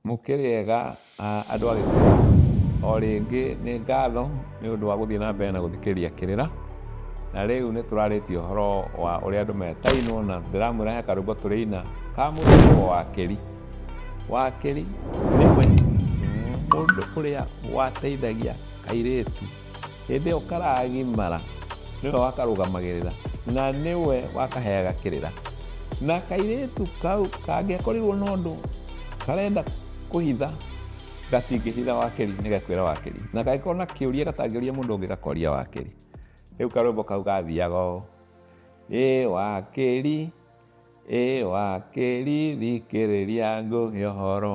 Mũkĩrĩega andũ a Gĩkũyũ, o rĩngĩ nĩ ngatho nĩ ũndũ wa gũthiĩ na mbere na gũthikĩrĩria kĩrĩra, na rĩu nĩ tũrarĩtie ũhoro wa ũrĩa andũ metainwo na ndĩramwĩra he karwĩmbo tũrĩina ka mũthemba wa wakĩri. Wakĩri nĩwe mũndũ ũrĩa wateithagia airĩtu. Hĩndĩ ĩyo karagimara nĩwe wakarũgamagĩrĩra na nĩwe wakaheaga kĩrĩra na kairĩtu kau kangĩakorirwo na ũndũ karenda kũhitha gatingĩhitha wakeri nĩ gakwĩra wakeri na gagĩkorwo na kĩũria gatangĩũria mũndũ ũngĩ gakoria wakeri rĩu karwĩmbo kau gathiaga ũũ ĩ wakeri ĩ wakeri thikĩrĩria ngũhe ũhoro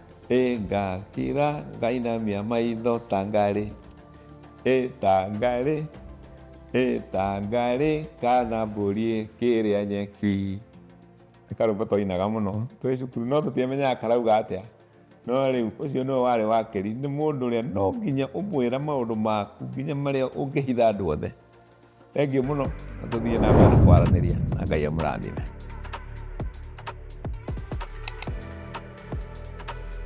Ĩ ngakira ngainamia maitho ta ngarĩ Ĩ ta ngarĩ Ĩ ta ngarĩ kana mbũri ĩkĩrĩa nyeki nĩ karwĩmbo twainaga mũno twĩ cukuru no tũtiamenyaga karauga atĩa no rĩu ũcio nĩwe warĩ wakĩri nĩ mũndũ ũrĩa no nginya ũmwĩra maũndũ maku nginya marĩa ũngĩhitha andũ othe thengiũ mũno na tũthiĩ na mbere kwaranĩria na ngai amũrathime